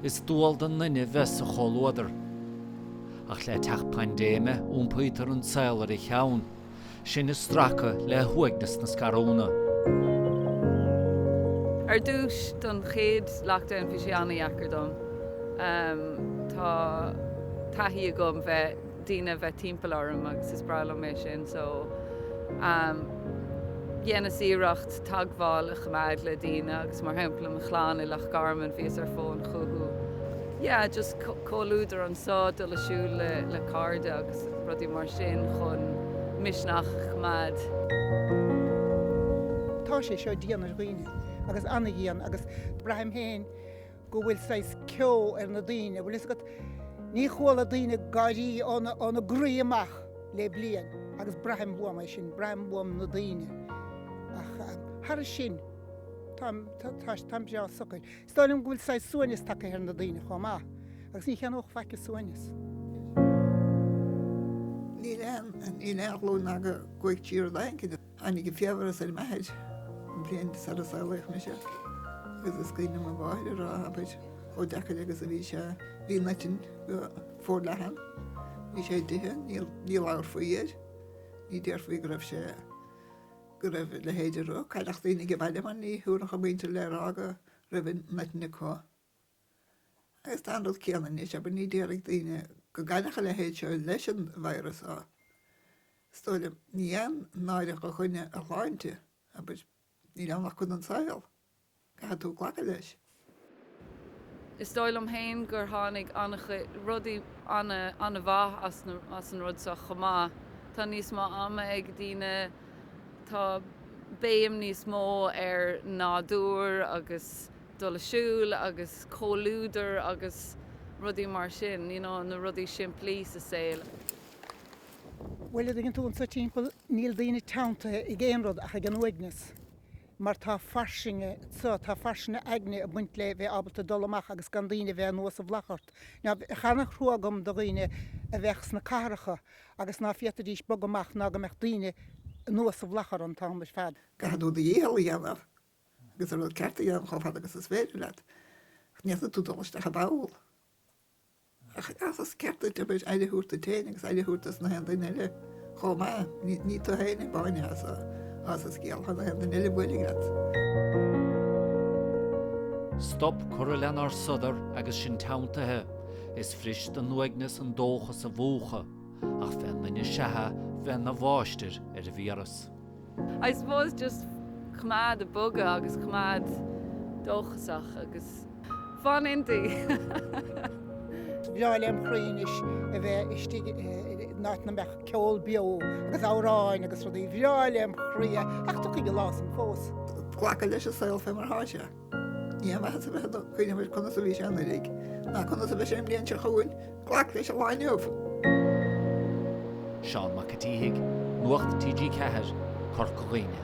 Is dual don duine bheith sa chomhluadar. Ach le teacht paindéime, iompaítear an saol ar a cheann. Sinn ag stracadh le huaigneas na scarúna. Ar dtús, don chéad lockdown, bhí sé an-dheacair dom. Tá taithí agam bheith. daoine a bheith timpeall orm agus is breá liom é sin so dhéanas iarracht teagmháil a choimeád le daoine agus mar shampla mo chlann i Loch Garman bhíos ar fón chucu yeah just comhluadar anseo, dul ag siúl le cairde agus rudaí mar sin chun misneach a choimeád. tá sé seo dian ar dhaoine agus ana-dhian agus braithim féin go bhfuil saghas ceo ar na daoine, bhfuil fhios agat, ní chuala daoine ag gáirí óna gcroí amach le bliain agus braithim uaim é sin, braithim uaim na daoine ach thairis sin táim breá socair. Is dóigh liom go bhfuil saghas suaimhneas tagtha ar na daoine chomh maith agus ní cheannódh faic an suaimhneas. Níl aon ghlúin ná go gcuaigh trí rud éigin. Tháinig an fiabhras ar m'athair an bhliain sara saolaíodh mise agus is cuimhin liom mo mháthair ag rá, abair, chomh deacair agus a bhí sé, bhí an eitinn go forleathan, bhí sé d'ithe, ní labharfaí air, ní déarfaí go raibh sé, go raibh a leithéid de rud, cailleadh daoine ag baile mar ní thabharfadh a muintir le rá go raibh an eitinn acu. Agus tá an rud céanna anois, abair, ní déarfaidh daoine go gcailleadh a leithéid seo leis an víreas á, is dóigh liom. Ní haon náire do dhuine a shláinte, abair, níl ann ach cuid den tsaol, caithfidh tú glacadh leis. Is dóigh liom féin gur tháinig an-chuid rudaí an-mhaith as an rud seo chomh maith. Tá níos mó ama ag daoine, tá béim níos mó ar nádúr agus. dul ag siúl agus comhluadar agus rudaí mar sin, you know, na rudaí simplí sa saol. Bhuel, a' dtuigeann tú, anseo timpeall níl daoine teanntaithe ag aon rud ach ag an uaigneas mar tá fairsinge anseo, tá fairsinge aigne ag baint le bheith ábalta dul amach agus gan daoine a bheith anuas sa mhullach ort. Now, tá ana-thrua agam do dhaoine a bheadh sna cathracha agus ná féadfaidís bogadh amach ná go mbeadh daoine anuas sa mhullach orthu an t-am ar fad. Caithfidh tú do dhícheall a dhéanamh Agus an rud ceart a dhéanamh chomh fada agus is féidir leat, ní fhéadfaidh tú dul isteach i bpoll. Ach is ceart duit, abair, aire a thabhairt duit féin agus aire a thabhairt dos nach aon duine eile chomh maith. Ní tú féin amháin atá sa scéal ach nach aon duine eile a bhuailfidh leat. Stop curtha lenár sodar agus sinn teanntaithe. Is furaist don uaigneas an dóchas a mhúchadh. Ach bheadh an duine, sea, bheadh ina mháistir ar an víreas. I suppose just coimeád ag bogadh agus coimeád dóchasach agus fan inti! bhreá lem chroí anois a bheith istigh in áit na mbeadh ceol beo agus amhráin agus rudaí bhreá lem chroí ach tiocfaidh an lá san fós. Glacadh leis an saol fé mar atá sé. Ní haon mhaitheas a bheith ag cuimhneamh ar conas a bhí sé anuraidh, ná conas a bheidh sé an bhliain seo chugainn, glac leis an lá inniu! Seán Mac a tSíthigh, Nuacht TG4, Corca Dhuibhne.